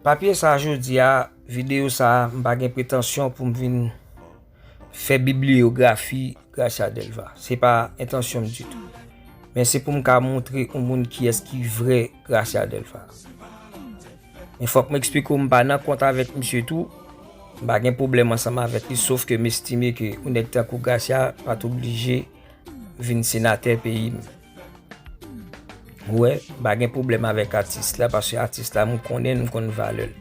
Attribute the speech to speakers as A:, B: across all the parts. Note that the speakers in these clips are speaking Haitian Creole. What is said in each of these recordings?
A: Papye sa jodi a, videyo sa a, m pa gen pretansyon pou m vin fè bibliyografi Gracia Delva. Se pa entansyon m ditou. Men se pou m ka montre yon moun ki es ki vre Gracia Delva. Men fòk m eksplike w m pa nan kont avèk misye tou, m pa gen pwoblèm ansanm avèk li, sof ke m estime ke yon nèg tankou Gracia pat oblije vin senatè peyi m. Ou wè, m pa gen pwoblèm avèk atis la paske atis la m konnen l, m konn valè l.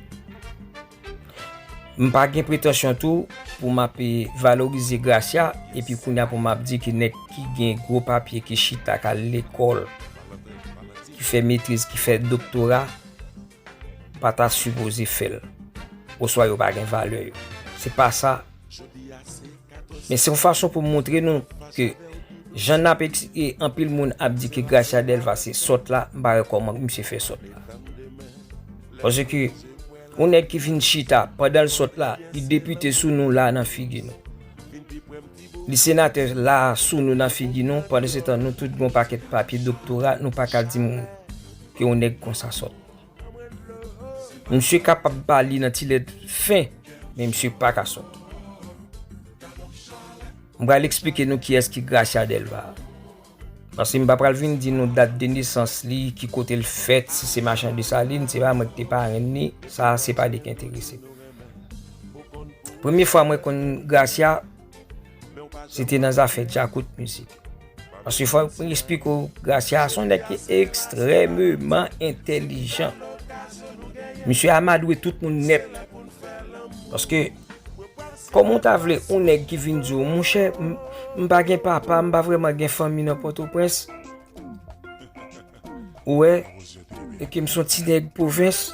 A: M pa gen pretansyon tou pou m ap valorize Gracia epi kounye a pou m ap di ki nèg ki gen gwo papye ki chita k al lekòl, ki fè metriz, ki fè doktora pa ta sipoze fè l oswa yo pa gen valè yo. Se pa sa Men se yon fason pou moutre nou ke jan nap eksplike anpil moun ap di ke Gracia Delva se sòt la, m pa wè kòman pou misye fè sòt la. Paske yon nèg ki vin chita pandan l sòt la, li depite sou nou la nan figi nou. Li senatè la sou nou nan figi nou, pandan se tan nou tout gen yon pakèt papye doktora, nou pa ka di m ke yon nèg konsa sòt. Misye kapab pa li nan ti lèt fen, men misye pa ka sòt. M pral eksplike nou kiyès ki Gracia Delva. Paske m pa pral vin di nou dat de nesans li, ki kote l fèt, si se Machan Desalin, se pa mwen ki te parenn ni, sa se pa li ki enterese. Premye fwa mwen konn Gracia, se te nan zafè djakout mizik. Paske fòk mwen esplike ou, Gracia son nèg ki ekstrèmeman entèlijan. Misye amadwe tout moun nèt. Paske, kòm ou ta vle, ou nèg ki vin di ou, moun chè, m pa gen papa, m pa vreman gen fanmi nan Pòtoprens. Ou wè, e ke m son ti nèg pwovens,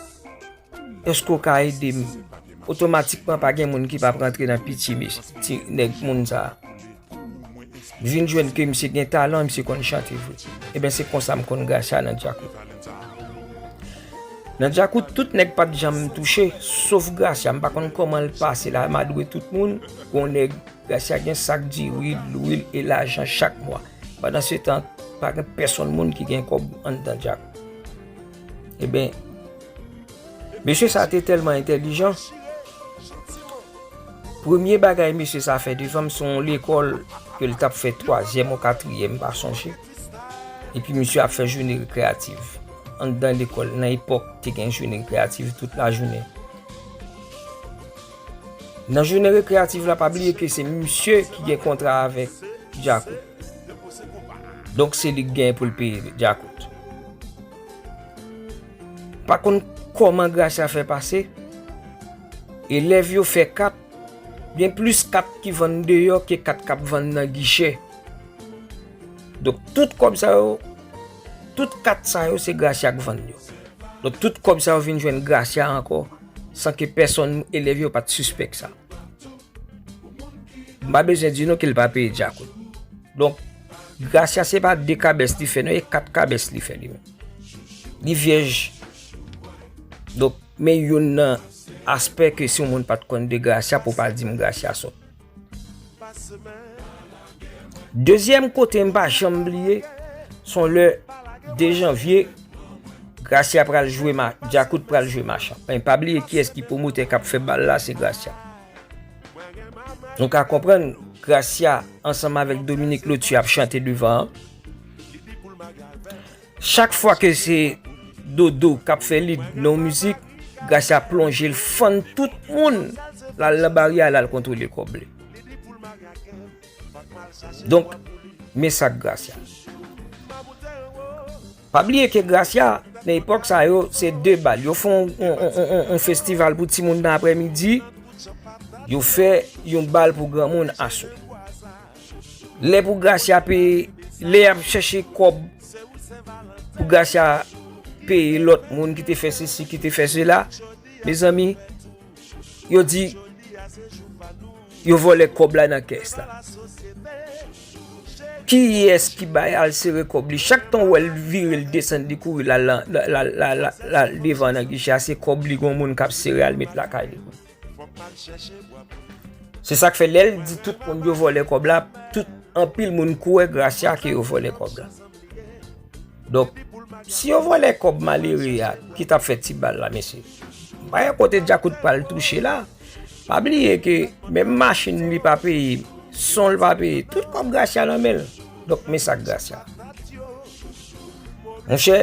A: èske ou ka ede m? Otomatikman pa gen moun ki pa prantre nan pitye mis, ti nèg moun sa. M vin jwenn ke misye gen talan, misye konn chante vre. E ben se konsa m konn Gracia nan Djakout. Nan Djakout, tout nèg pat janm touche, sof Gracia. M pa konn koman l pase la, amadwe tout moun. Gon nèg, Gracia gen sak diri, lwil e lajan chak mwa. Pandan se tan, pa gen pèsonn moun ki gen kòb anndan djak. E ben, mesye sa te tèlman entèlijan, premye bagay mesye sa fè devan m se yon lekòl ke l t ap fè twazyèm ou katriyèm, m pa sonje, epi mesye ap fè joune rekreyativ anndan lekòl. Nan epòk, te gen joune rekreyativ tout lajounen. Nan jounen rekreyativ la pa bliye ke se misye ki gen kontra avèk Djakout. Donk se li ki gen pou l peye Djakout. Pa konn kòman Gracia fè pase, elèv yo fè kat, gen plis kat ki vann deyò ke kat k ap vann nan gichè. Donk tout kòb sa yo, tout kat sa yo se Gracia k vann yo. Donk tout kòb sa yo vin jwenn Gracia ankò. san ke pèsonn nan elèv yo pa t sispèk sa. M pa bezwen di nou ke l pa peye dyakout. Donk, Gracia se pa 2 kabès li fè non, e 4 kabès li fè li menm. Li vyèj. Donk, men youn nan aspè ke si yon moun pa t konn de Gracia pou pa di m Gracia sòt. Dezyèm kote m pa janm bliye, son lè 2 janvye, Gracia pral jwe, Djakout pral jwe Machan. Men pa bliye kiyès ki pwomotè k ap fè bal la, se Gracia. Nou ka konprann, Gracia ansanm avèk Dominique Lotu ap chante devan an. Chak fwa ke se Dodo kap fè lead nan yon mizik, Gracia plonje l fann tout moun, l al nan bari a l al kontwole kòb li. Donk, men sa k Gracia. Pa bliye ke Gracia, nan epòk sa yo, se 2 bal. Yo fè yon festival pou ti moun nan aprè midi, yo fè yon bal pou gran moun aswè. Lè pou Gracia peye, lè yap chèche kòb pou Gracia peye lòt moun ki te fè se si, ki te fè se la, mezanmi, yo di, yo vòlè kòb la nan kès la. Ki yès ki bay al sere kòb li, chak tan wèl vire l desan li kouri la la la la la la la devan nan gicha se kòb li gwen moun kap sere al met la kay li. Se sak fè lèl di tout moun yo vòlè kòb la, tout anpil moun kouè Gracia ke yo vòlè kòb la. Donk, si yo vòlè kòb malere ya, ki tap fè ti bal la mesye? Bay an kote Djakout pral touche la, pa bliye ke menm machin li pa peye, son li pa peye, tout kòb Gracia nan menl. Donk, men sak Gracia. Monchè,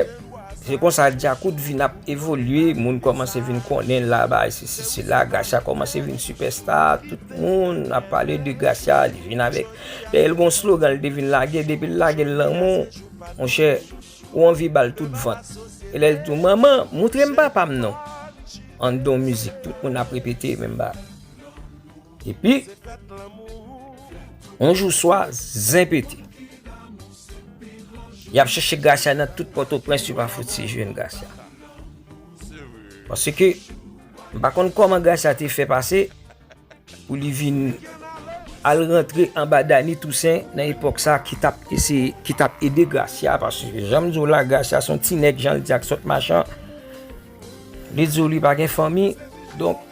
A: se konsa Djakout vin ap evolye, moun kòmanse vin konnen la bay se si se la, Gracia kòmanse vin sipèsta, tout moun ap pale de Gracia, li vin avèk, dèyè l gon slogan li te vin lage, depi l lage lanmou, monchè, ou anvi ba l tout vant, e lè l di w manman, moutre m papa m non, an don mizik, tout moun ap repete menm bagay. Epi, yon jou swa, zen pete. Y ap chèche Gracia nan tout Pòtoprens, yo pa fouti jwenn Gracia. Paske, m pa konn kòman Gracia te fè pase, pou li vin al rantre anba Dany Toussaint nan epòk sa ki tap eseye, ki tap ede Gracia. Paske, jan m di w la, Gracia son ti nèg, jan l di ak sòt machan. Li di w li pa gen fanmi, donk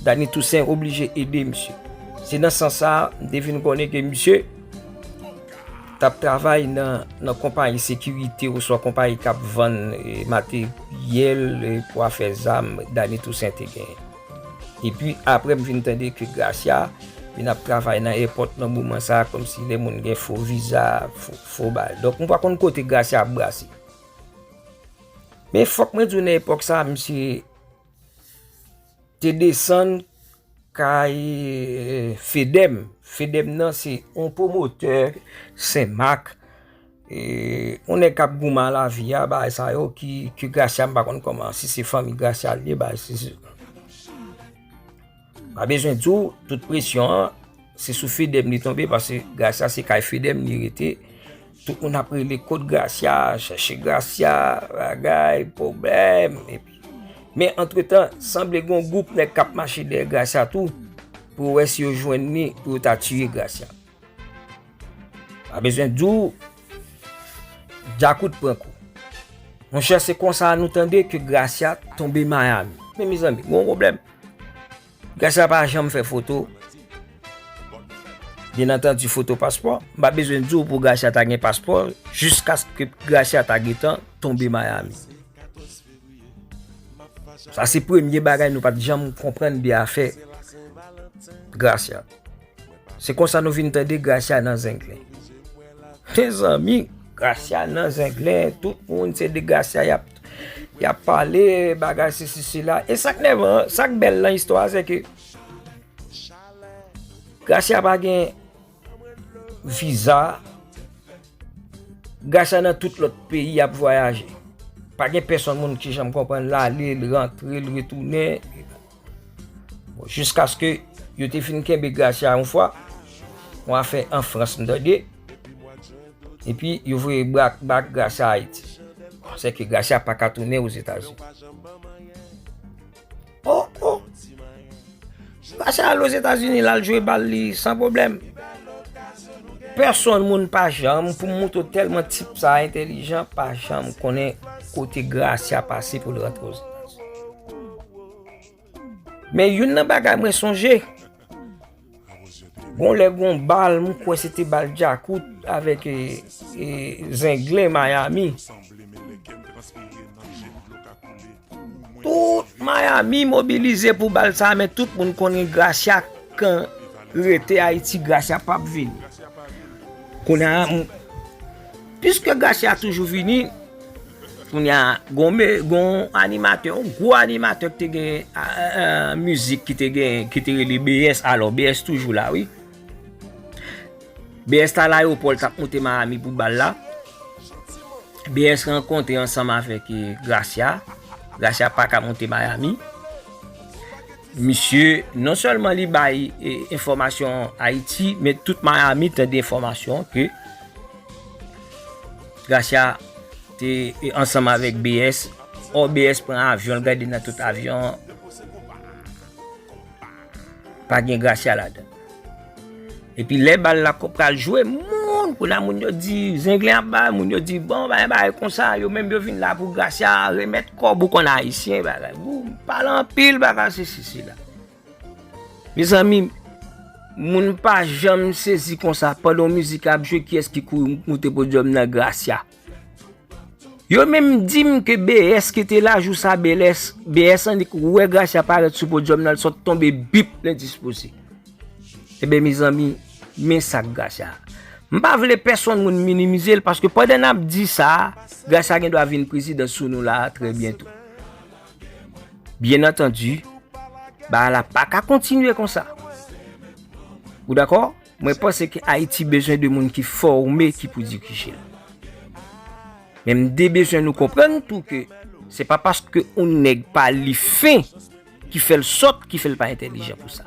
A: Dany Toussaint oblije ede misye. Se nan sans sa a, m te vin konnen ke misye t ap travay nan konpayi sekirite oswa konpayi k ap vann materyèl pou afè zam Dany Toussaint te genyen. Epi apre m vin tande ke Gracia vin ap travay nan èpòt nan moman sa a kòmsi lè moun gen fo viza, fo bagay. Donk m pa konn kote Gracia ap brase. Men fòk mwen di nan epòk sa misye te desann kay euh, Fedem. Fedem nan se yon pwomotè Sen Mak, yon nèg k ap goumen a lavi a, bagay sa yo ki Gracia m pa konn kòman, si se fanmi Gracia l ye, bagay si. Pa bezwen di w, tout presyon an, se sou Fedem li tonbe, pase Gracia se kay Fedem li rete, tout moun ap rele kot Gracia, chèche Gracia, bagay, pwoblèm, epi. Men antretan, sanble gen yon gwoup nèg k ap mache dèyè Gracia tou, pou wè si yo jwenn li, pou yo ta tiye Gracia. Pa bezwen di w Djakout pran kou. Monchè se konsa nou tande ke Gracia tonbe Miami. Men mezanmi, gen yon pwoblèm. Gracia pa janm fè foto. Byen antandi foto paspò. M pa bezwen di w pou Gracia ta gen paspò jiskaske Gracia ta gentan tonbe Miami. Sa se premye bagay nou pa t janm konprann de afè Gracia. Se konsa nou vin tande Gracia nan zenglen. Mezanmi, Gracia nan zenglen, tout moun se de Gracia y ap pale, bagay se si se la. E sak nèvan, sak bèl nan istwa se ke Gracia pa gen viza, Gracia nan tout lòt peyi y ap vwayaje. Pa gen pèsonn moun ki janm konprann l ale, l rantre, l retounen. Bon, jiskaske yo te fin kenbe Gracia yon fwa, yon afè an Frans m tande, epi yo voye bak Gracia Ayiti. Bon, sèke Gracia pa ka tounen Ozetazini. O, o! Gracia al Ozetazini, l al jwe bal li san pwoblèm. Pèsonn moun pa janm, pou m moutro tèlman tip sa entelijan, pa janm konnen kote Gracia pase pou l rantre Ozetazini. Men youn nan bagay mwen sonje, gon lè gon bal mwen kwè se te bal Djakout avèk e, e Zenglen Miami. Tout Miami mobilize pou bal sa men tout moun konnen Gracia kan rete Ayiti Gracia pap vini. Kounye a Piske Gracia toujou vini, kounya gon me, gon animatè, yon gwo animatè ki te gen mizik ki te gen, ki te rele BS, alò BS toujou la wi. BS ta la yo pòl tap moute Miami pou bal la. BS rankonte ansanm avèk Gracia. Gracia pa ka moute Miami. Misye non sèlman li bay enfòmasyon Ayiti men tout Miami tande enfòmasyon ke Gracia te ansanm avèk BS ò BS pran avyon l gade nan tout avyon an pa gen Gracia ladan. Epi lè bal la ko pral jwe moun kou nan moun yo di zenglen ap bay moun yo di bon bay bay kon sa yo menm yo vin la pou gracia remet kob ou konn ayisyen bagay gou pale anpil bagay se si se la mezanmi moun pa janm sezi kon sa pandan mizik ap jwe kiyes ki kouri moute podyom nan gracia. Yo menm dim ke BS ki te la jou sa BLS, BS annik wè Gracia parèt sou podyòm nan l sot tonbe bip lendispoze. Eben mezanmi men sak Gracia. M pa vle pèsonn moun minimize l paske pandan n ap di sa Gracia gen dwa vin prezidant sou nou la trè byento. Byen antandi bagay la pa ka kontinye konsa. Ou dakò? Mwen panse ke Ayiti bezwen de moun ki fòme ki pou dirije l. Men m de bezwen nou konprann tou ke se pa paske yon nèg pa li fen ki fè l sòt, ki fè l pa entèlijan pou sa.